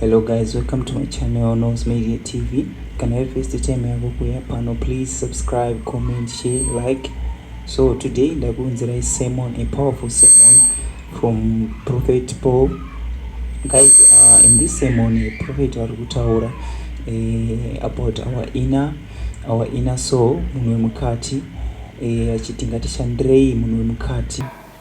hello guys welcome to my channel nose media tv kana iri first time yako kuya pano please subscribe comment share like so today ndakuunzirai sermon a powerful sermon from prophet paul guys uh, in this sermon prophet ari kutaura uh, about our inner our inner soul munhu wemukati eh, achiti ngatishandirei munhu wemukati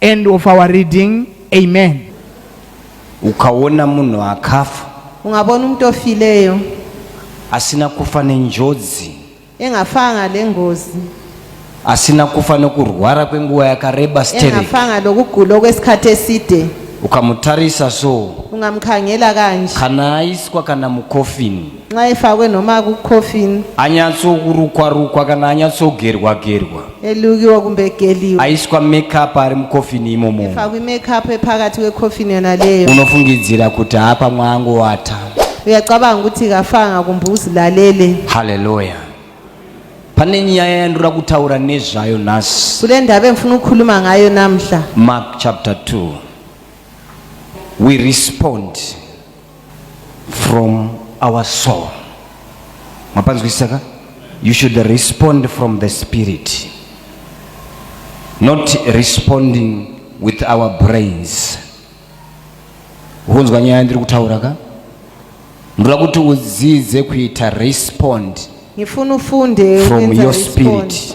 End of our reading. Amen. Ukaona munhu akafa. Ungabona umuntu ofileyo. Asina kufa nenjodzi. Engafanga lengozi. Asina kufa nokurwara kwenguva yakareba sterek. Engafanga lokugula okwesikhathi eside. Ukamutarisa so. Ungamkhangela kanje. Kana aiswa kana mucoffin. Nxaifakwe nhoma kucoffin. Anyatsokurukwa rukwa kana anyatsogerwa gerwa. Elukiwa kumbe egeliwa. Aiswa makeup ari mucoffin imomo. Efakwe makeup epakati wecoffin yona leyo. Unofungidzira kuti hapa mwangu wata. Uyacabanga ukuthi kafanga kumbe uzilalele. Hallelujah. Pane nyaya yandira kutaura nezvayo nhasi. Kule ndaba endifuna ukukhuluma ngayo namhla. Mark chapter 2. We respond. from our soul mapanzwisisa ka you should respond from the spirit not responding with our brains hunzwa nyaya ndiri kutaura ka ndoda kuti udzidze kuita respond from your spirit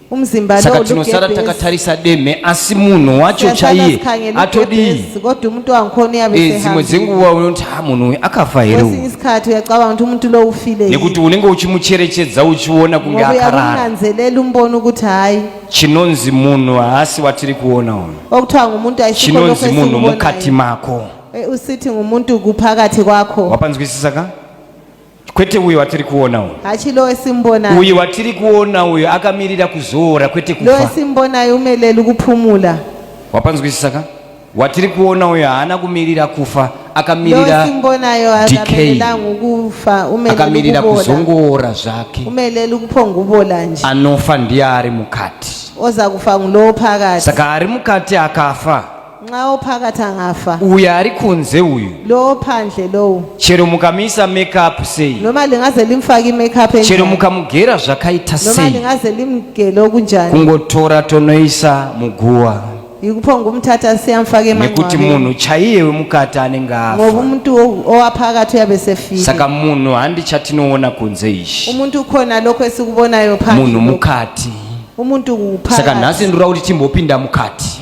saka tinosara takatarisa demhe asi munhu wacho chaiye atodii eh, dzimwe dzenguva unoti ha munhu uyu akafa here nekuti unenge uchimucherechedza uchiona kunge akarara chinonzi munhu haasi watiri kuona uyu chinonzi munhu mukati mako eh, usithi ngumuntu kuphakathi kwakho wapanzwisisa ka kwete uyo watiri kuona uyo hachilowe simbona uyo watiri kuona uyo akamirira kuzoora kwete kufa lowe simbona yumeleli kuphumula wapanzwisisa ka watiri kuona uyo haana kumirira kufa akamirira simbonayo akamelelanga ukufa akamirira kuzongoora zvake umelele ukuphongubola nje anofa ndiye ari mukati oza kufa ngulowo phakathi saka ari mukati akafa Nxa ophakathi angafa. Uyu ari kunze uyu. Lo ophandle lowu. Chero mukamisa make up sei. Noma lingaze limfake i-make up enjani. Chero mukamugera zvakaita sei. Noma lingaze limgele okunjani. Kungotora tonoisa muguwa. Yikupho ngumthatha siyamfaka emangcwabeni. Nekuti munhu chaiye wemukati anenge afa. Ngoba umuntu owaphakathi uyabe sefile. Saka munhu handi chatinoona kunze ichi. Umuntu ukhona lokho esikubonayo phandle. Munhu mukati. Umuntu kuphakathi. Saka nhasi ndiri kuti timbopinda mukati.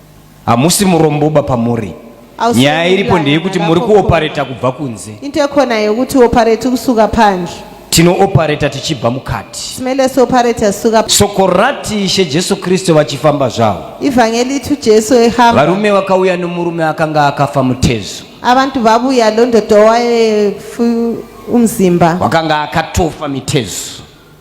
Hamusi muromboba pamuri. Nyaya iripo ndeyekuti muri kuopareta kubva kunze. Into ekhona yekuti oparate kusuka phandle. Tinoopareta tichibva mukati. Simele sopareta suka. Soko rati Ishe Jesu Kristu vachifamba zvavo. Ivhangeli itu Jesu ehamba. Varume vakauya nomurume akanga akafa mutezo. Abantu vabuya londodowa umzimba. Wakanga akatofa mitezo.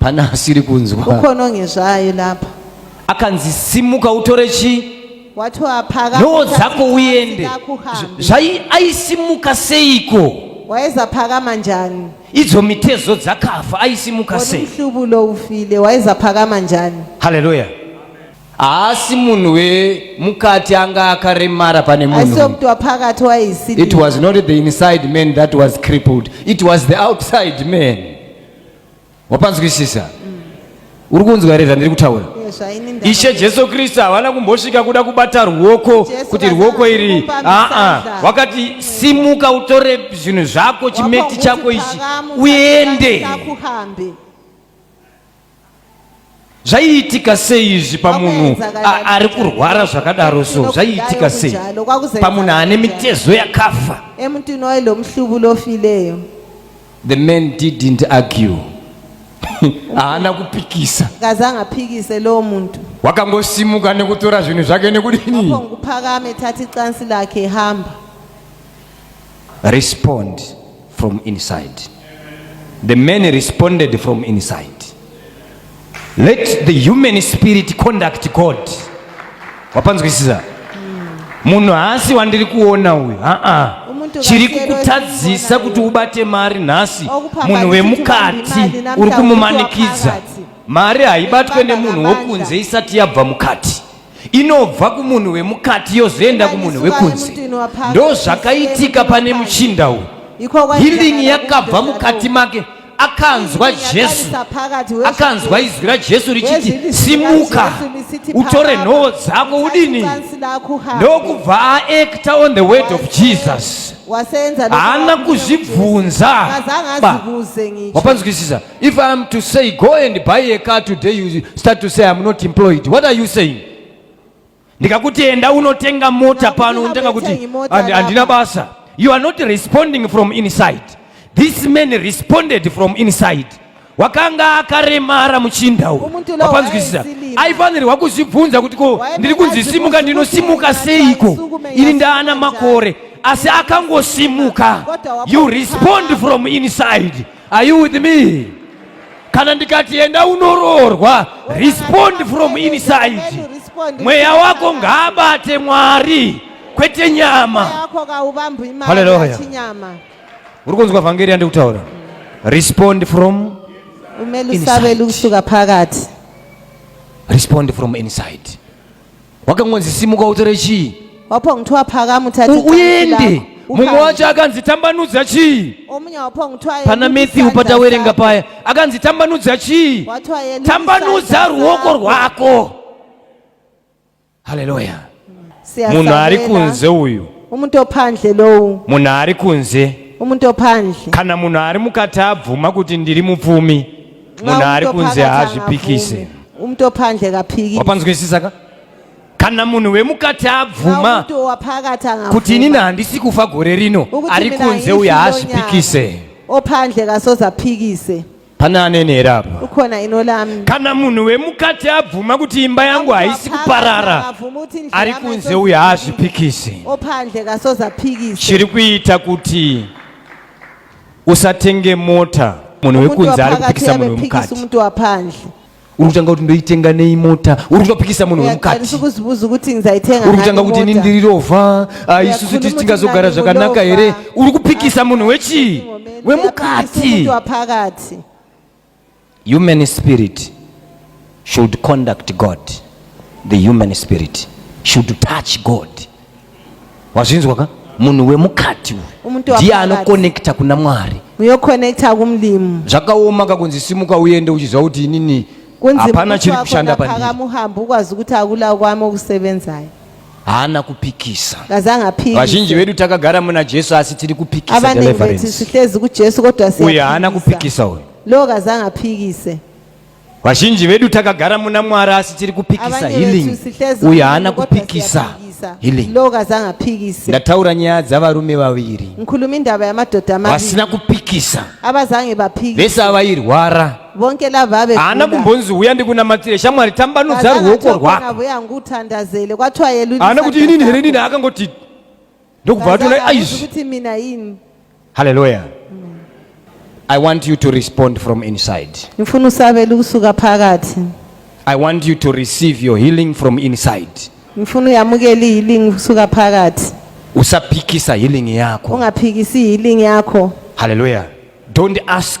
pana asiri kunzwa ukononge zvayo lapha akanzi simuka utore chi noo dzako uende zvai aisimuka seiko waizaphakama njani idzo mitezo dzakafa aisimuka sei mhlubu lo ufile waizaphakama njani haleluya haasi munhu wemukati anga akaremara pane munhuit was not the inside man that was crippled it was the outside man wapanzwisisa mm. uri kunzwa here zvandiri kutaura ishe jesu kristu havana kumbosvika kuda kubata ruoko kuti ruoko iri aa wakati simuka utore zvinhu zvako chimeti chako ichi uende zvaiitika sei izvi pamunhu ari kurwara zvakadaro so zvaiitika sei pamunhu ane mitezo yakafa emntwini waye lo mhlubulo ofileyo the man didn't argue haana kupikisa kazange aphikise lowo muntu wakangosimuka nekutora zvinhu zvake nekudini phakame thatha icansi lakhe hamba respond from inside. The men responded from inside. Let the human spirit conduct God. Wapanzwisisa? Munhu haasi wandiri kuona uyu. Haa. Chiri kukutadzisa kuti ubate mari nhasi. Munhu wemukati uri kumumanikidza. Mari haibatwe nemunhu wokunze isati yabva mukati. inobva kumunhu wemukati yozoenda kumunhu wekunze ndozvakaitika pane muchinda uyu hilingi yakabva mukati make akanzwa jesu akanzwa izwi rajesu richiti simuka utore nhoo dzako udini ndokubva aekta on the word of jesus haana kuzvibvunza wapanzwisisa If I am to say go and buy a car today you start to say I am not employed. What are you saying? Ndikakuti enda unotenga mota pano unotenga kuti handina basa. You are not responding from inside. This man responded from inside. wakanga akaremara muchinda uyu wapanzwisisa aifanirwa kuzvibvunza kuti ko ndiri kunzi simuka ndinosimuka seiko ini ndaana makore asi akangosimuka you respond from inside Are you with me? Kana ndikati enda unoroorwa, respond from inside. Mweya wako ngaabate Mwari kwete nyama. Haleluya. Uri kunzwa vhangeri yandikutaura? Respond from inside. Respond from inside. wakangonzi simuka utore chii waphonga kuthiwa uende mumwe wacho akanzi tambanudza chii pana matthew patawerenga paya akanzi tambanudza chii tambanudza ruoko rwako haleluya munhu ari kunze uyu umuntu ophandle lowu munhu ari kunze umuntu ophandle kana munhu ari mukati abvuma kuti ndiri mupfumi munhu ari kunzi haazvipikise umntu ophandle kaphikise wapanzwisisa ka kana munhu wemukati abvuma kuti inini handisi kufa gore rino ari kunze uye haazvipikise ophandle kasoze aphikise pane anenhera apa ukhona ino lami kana munhu wemukati abvuma kuti imba yangu haisi kuparara ari kunze uye haazvipikisi ophandle kasoze aphikise chiri kuita kuti usatenge mota munhu wekunze ari kupikisa munhu wemukati umuntu waphandle uri kutanga kuti ndoitenga nei mota uri kutopikisa munhu wemukati uri kutanga kuti ini ndiri rovha ah, isusu tisi tingazogara zvakanaka here uri kupikisa munhu wechii wemukati Human spirit should conduct God. The human spirit should touch God. Wazvinzwa ka? Munhu wemukati uyu ndiye anokonekta kuna Mwari. Uyokonekta kumlimu. Zvakaoma ka kunzi simuka uende uchiziva kuti inini hapana chiri kushanda pandiri. Kunzima kufamba muhambo ukwazi kuti akula kwami okusebenzayo. haana kupikisa vazhinji vedu takagara muna jesu asi tiri kupikisa uyo haana kupikisa uyo vazhinji vedu takagara muna mwari asi tiri kupikisa healing uyo haana kupikisa ndataura nyaya dzavarume vaviri vasina kupikisa vese avairwara vonke lava haana kumbonzi huya ndikunamatire shamwari tambanudza ruoko rwakoutandazele kwathiwa yeluhaana kuti inini here inini akangoti ndokubva atona aizvikuti mina ini halleluya i want you to respond from inside ndifuna usabele ukusuka phakathi i want you to receive your healing from inside ndifuna uyamukele ihealing ukusuka phakathi usaphikisa healing yakho ungaphikisi ihealing yakho halleluya don't ask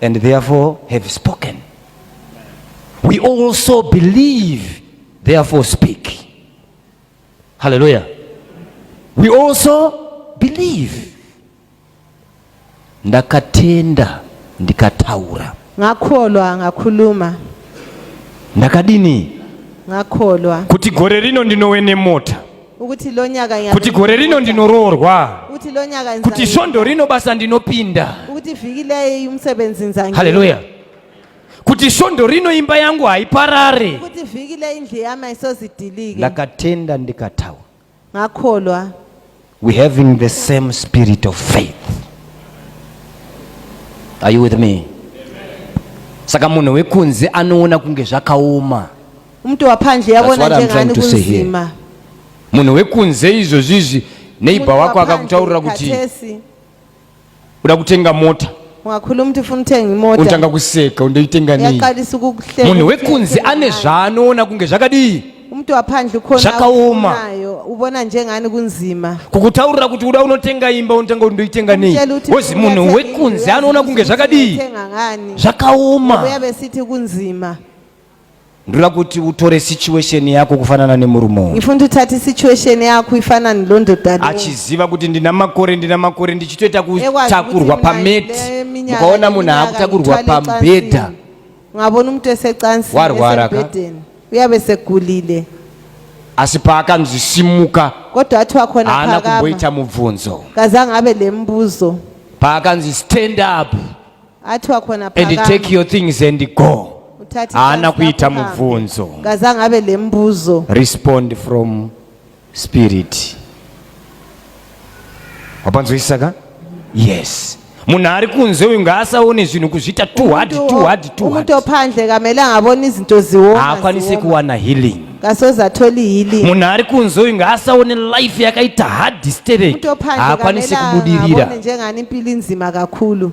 and therefore have spoken we also believe therefore speak hallelujah we also believe ndakatenda ndikataura ngakholwa ngakhuluma ndakadini ngakholwa kuti gore rino ndinowe nemota Kuti lonyaka Kuti gore rino ndinoroorwa. Kuti lonyaka nzanga. Kuti svondo rino basa ndinopinda. Kuti vhiki leyi umsebenzi nzanga. Hallelujah. Kuti svondo rino imba yangu haiparare. Kuti vhiki leyi indlu yami haisozidilike. Ndakatenda ndikataura. Ngakholwa. We having the same spirit of faith. Are you with me? Saka munhu wekunze anoona kunge zvakaoma. Mtu waphandle yabona njengani kunzima. Munhu wekunze izvozvizvi neighbor wako akakutaurira kuti uda kutenga mota ungakhuluma ukuthi ufuna uthenga imoto untanga kuseka undoyitenga nini yaqalisa ukukuhleka munhu wekunzi ane zvaanoona kunge zvakadii umuntu waphandle ukhona Zvakaoma. akufunayo, ubona njengani kunzima kukutaurira kuti uda unotenga imba untanga undoyitenga nei Umtshela ukuthi wozi munhu uyathenga wekunzi anoona kunge zvakadii uyathenga ngani zvakaoma uyabe sithi kunzima Ndura kuti utore situation yako kufanana nemurume uyu. Ngifuna uthathe situation yakho ifana nelondodana. Achiziva kuti ndina makore ndina makore ndichitoita kutakurwa pameti. Ukaona munhu akutakurwa pambedha. Ngabona umuntu esecansi warwara ka. Uyabe segulile. Asi paakanzi simuka. Kodwa wathi wakhona phakama. Haana kumboita mubvunzo. Kazange abe lembuzo. Paakanzi stand up. and take your things and go haana kuita mubvunzo respond from spirit wapanzwisisa ka yes munhu ari kunze uyu ngaasaone zvinhu kuzviita tuhadtuhadtuhadtophandle kamele angaboni izinto ziwo haakwanise kuwana healing kasoza atholi healing munhu ari kunze uyu ngaasaone life yakaita hard disturbing haakwanise kubudirira njengani impilo inzima kakhulu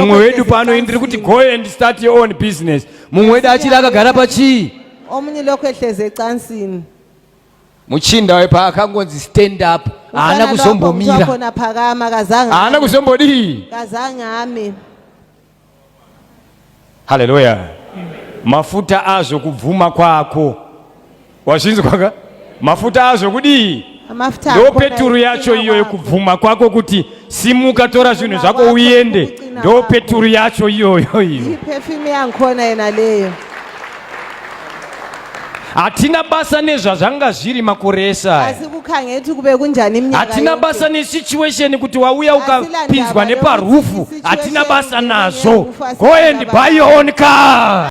mumwe wedu pano ndiri kuti go and start your own business mumwe wedu achiri akagara pachii omunye lokhu ehleze ecansini muchinda we paakangonzi stand up haana kuzombomira haana kuzombodii kazange ame Haleluya. Mafuta azvo kubvuma kwako. Wazvinzwa ka? Mafuta azvo kudii? Mafuta Ndo akona peturu ekuchinja yacho iyo kwako. yekubvuma kwako kuti simuka tora zvinhu Kuchinja zvako kwako, uende. kuchinja Ndo kwako. peturu yacho iyoyo iyo. Iperfume yankhona yena leyo. hatina basa nezvazvanga zviri makore esahatina basa nesituation kuti wauya ukapinzwa neparufu hatina basa nazvo go and buy your own car